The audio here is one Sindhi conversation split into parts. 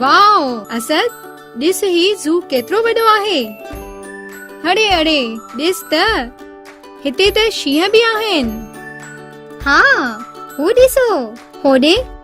واء اسد ڏس هي زو ڪيترو وڏو آهي اڙي اڙي ڏس ته هتي ته شينهن به آهن ها هو ڏسو هوڏي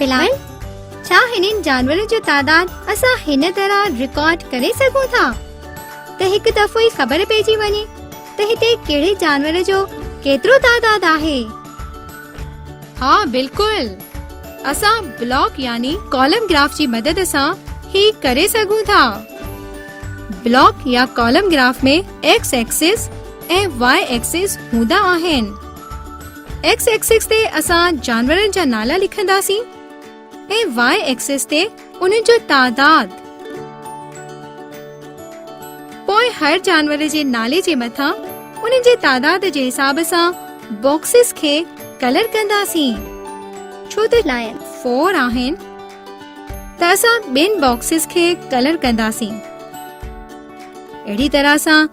بلال، ڇا هنن جانورن جو تعداد اسان هن طرح رڪارڊ ڪري سگهون ٿا ته هڪ دفعو ئي خبر پئجي وڃي ته هتي ڪهڙي جانور جو ڪيترو تعداد آهي؟ ها بلڪل، اسان بلاڪ يعني ڪالم گراف جي مدد سان هي ڪري سگهون ٿا. بلاڪ يا column graph ۾ x axis ۽ y axis هوندا آهن. ايڪس ايڪسس تي اسان جانورن جا نالا لکنداسين ۽ واء ايڪسس تي انهن جو تعداد پوء هر جانور جي نالي جي مٿان انهن جي تعداد جي حساب سان باڪسز کي ڪلر ڪنداسين ڇو ته لائن فور آهن ته اسان ٻين باڪسز کي ڪلر ڪنداسين اهڙي طرح سان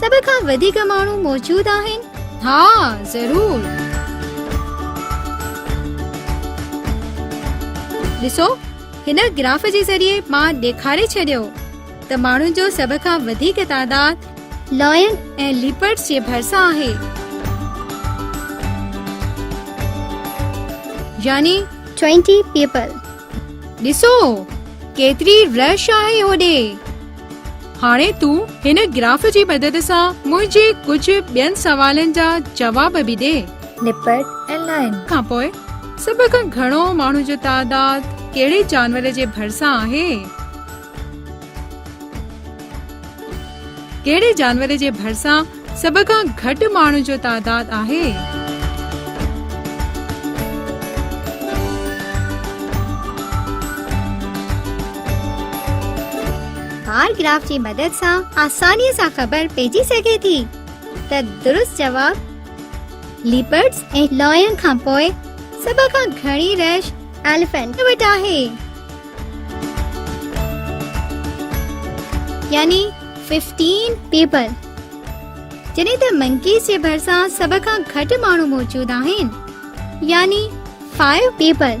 سڀ کان وڌيڪ ماڻهو موجود آهن؟ ها ضرور. ڏسو هن گراف جي ذريعي مان ڏيکاري ڇڏيو ته ماڻهن جو سڀ کان وڌيڪ تعداد لائن ۽ ليپرڊز جي ڀرسان آهي يعني 20 پيپل ڏسو ڪيتري رش آهي هوڏي. هاڻي تون هن گراف جي مدد سان منهنجي ڪجهه ٻين سوالن جا جواب به ڏي. نپرڊ ۽ لائن. کان پوء سڀ کان گهڻو ماڻهن جو تعداد ڪهڙي جانور جي ڀرسان آهي؟ ڪهڙي جانور جي ڀرسان سڀ کان گهٽ ماڻهن جو تعداد آهي؟ بار گراف جي مدد سان آساني سان خبر پئجي سگهي ٿي ته درست جواب ليپرڊز ۽ لائن کانپوء سڀ کان گهڻي رش ايليفنٽ وٽ آهي. يعني ففٽين پيپل جڏهن ته منڪيز جي ڀرسان سڀ کان گهٽ ماڻهو موجود آهن يعني فائيو پيپل